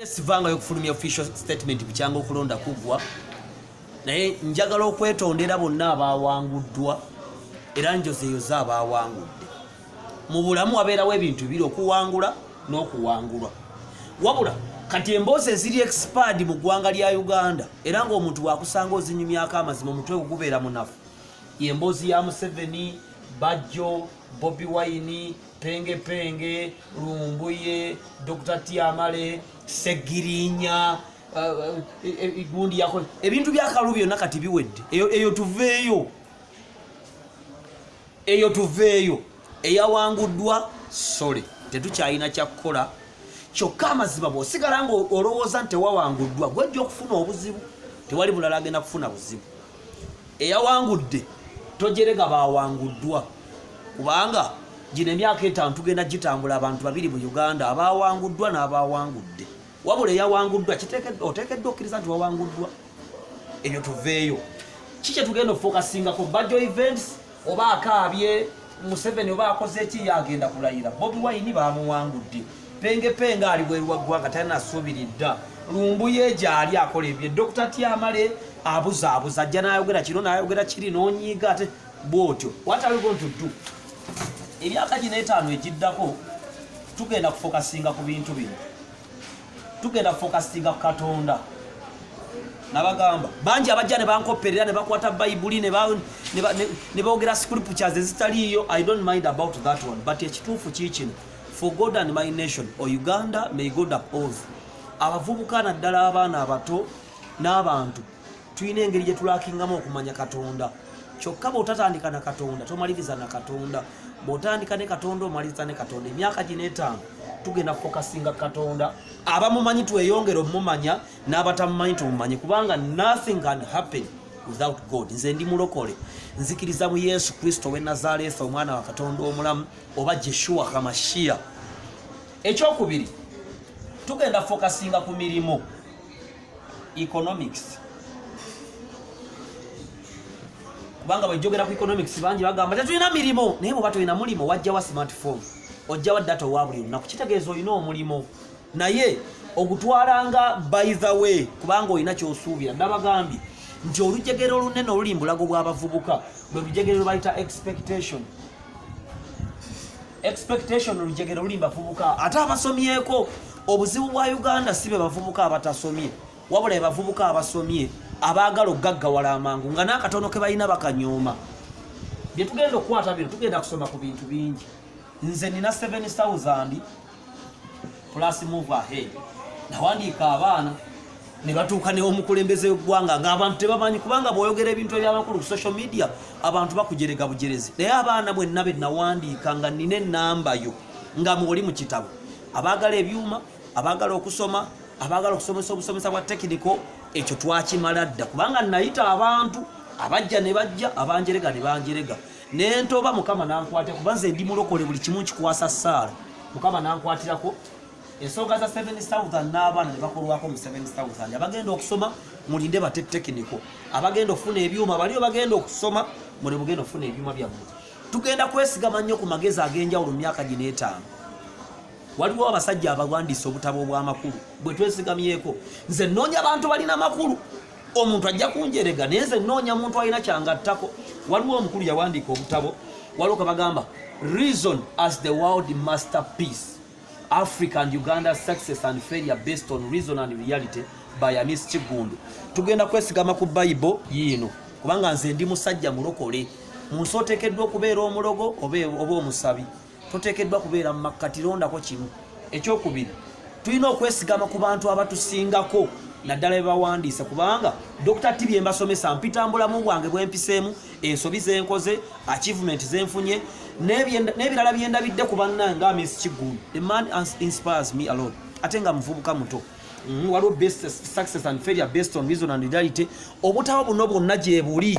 Sivanga okufulumya official statement bukyanga okulonda kuggwa naye njagala okwetondera bonna abaawanguddwa era njozeeyoze abaawangudde mu bulamu wabeerawo ebintu biri okuwangula n'okuwangulwa wabula kati emboozi eziri expired mu ggwanga lya uganda era ng'omuntu bwakusanga ozinyumyako amazima omutwe ogubeera munafu yemboozi ya museveni bajjo bobi wine penge penge lumbuye dr tiamale segirinya gundi yako ebintu byakalu byonna kati biwedde eyo, eyo tuveeyo eyo tuveeyo eyawanguddwa sole tetukyalina kyakukola kyokka amazima bwosigala nga olowooza nti tewawanguddwa gwejja okufuna obuzibu tewali bulala agenda kufuna buzibu eyawangudde tojerega bawanguddwa kubanga gino emyaka etaano tugenda gitambula abantu babiri mu uganda abawanguddwa n'abawangudde wabula eyawanguddwa oteekeddwa okkiriza nti wawanguddwa ebyo tuveeyo ki kyetugenda ofokasingako bajo events oba akaabye museveni oba akoze ki yagenda kulayira bobi wayini bamuwangudde penge penge ali bweru wa ggwanga talina asuubiri dda lumbuye gyali akola ebye dokita tyamale abuzaabuza ajja nayogera kino nayogera kiri nonyiiga ate bwotyo wataligontuddu emyaka gino etaano egiddako tugenda kufokasinga ku bintu bino tugenda fokasinga ku katonda nabagamba bangi abajja nebankopperera nebakwata bayibuli nebogera scriptures ezitaliiyo i don't mind about that one but ekituufu kiikino for god and my nation o uganda may god uphold abavubuka naddala abaana abato n'abantu tulina engeri gye tulakingamu okumanya katonda kyokka bw'otatandika na katonda tomaliriza na katonda bw'otandika ne katonda omaliriza ne katonda emyaka gino etaano tugenda kufokasinga katonda abamumanyi tweyongere omumanya n'abatamumanyi tumumanyi kubanga nothing can happen without god nze ndi mulokole nzikiriza mu yesu kristo we nazareetha omwana wa katonda omulamu oba jeshuwa hamashiya ekyokubiri tugenda fokasinga ku mirimu economics kubanga bwejjogera ku economics bangi bagamba tetulina mirimu naye bwoba tolina mulimu wajjawa smartphone ojjawa data owa buli lunaku kitegeeza olina omulimu naye ogutwalanga by the way kubanga olina kyosuubira nabagambye nti olujegere olunene oluli mbulago bw'abavubuka bwe lujegere lwebayita expectation expectation olujegere luli bavubuka ate abasomyeko obuzibu bwa uganda si be bavubuka abatasomye wabula ebavubuka abasomye abaagala okugaggawala amangu nga n'akatono ke balina bakanyooma bye tugenda okukwata bino tugenda kusoma ku bintu bingi nze nina 7000 plus move ahead nawandiika abaana ne batuuka newomukulembeze wegwanga ngaabantu tebamanyi kubanga bwoyogera ebintu ebyamakulu ku social media abantu bakujerega bujerezi naye abaana bwenna benawandiika nga nina enamba yo nga mwoli mu kitabo abaagala ebyuma abaagala okusoma abaagala okusomesa obusomesa bwa tekiniko ekyo twakimala dda kubanga nayita abantu abajja ne bajja abanjerega ne banjerega nentoba mukama nankwate kuba nze ndi mulokole buli kimu nkikwasa saala mukama nankwatirako ensonga za 7 southern n'abaana nebakolwako mu 7 southern abagenda okusoma mulinde bate tekiniko abagenda okufuna ebyuma baliyo bagenda okusoma muli mugenda okufuna ebyuma byammwe tugenda kwesigama nnyo ku magezi ag'enjawulo myaka gino etaano waliwo abasajja abawandiisa obutabo obw'amakulu bwe twesigamyeko nze nnoonya bantu balina makulu omuntu ajja kunjerega naye nze nnoonya muntu alina kyangattako waliwo omukulu yawandiika obutabo waliwo kwe bagamba reason as the world master peace africa and uganda success and failure based on reason and reality by amis kigundu tugenda kwesigama ku bayibo yiino kubanga nze ndi musajja mulokole mu nsi oteekeddwa okubeera omulogo oba omusabi toteekeddwa kubeera mu makkati londako kimu ekyokubiri tulina okwesigama ku bantu abatusingako naddala bebawandiise kubanga dr tibi embasomesa mpitambulamu bwange bwempiseemu ensobi zenkoze achievement zenfunye n'ebirala byendabidde ku banna nga miss kigulu the man inspires me alone ate nga muvubuka muto mm, waliwo success and failure based on reason and reality obutawo buno bwonna gyebuli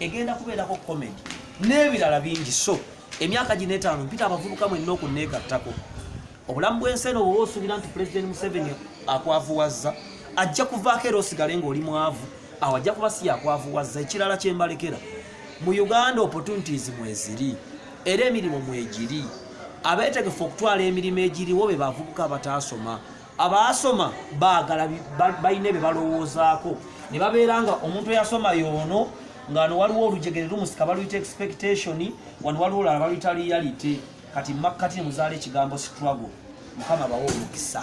egenda kubeerako komedi n'ebirala bingi so emyaka gino etaano mpita abavubuka mwenna okunneegattako obulamu bw'ensi eno bwoba osuubira nti pulezidenti museveni akwavuwazza ajja kuvaako era osigale ng'oli mwavu awo ajja kuba si yakwavuwazza ekirala kye mbalekera mu uganda opportunities mweziri era emirimu mwegiri abeetegefu okutwala emirimu egiriwo be bavubuka abataasoma abaasoma baagala balina bye balowoozaako ne babeera nga omuntu eyasoma yoono ngano waliwo olujegere lumusika baluyita expectation wano waliwo olala baluyita reality kati makkati nemuzaala ekigambo struggle mukama bawa omukisa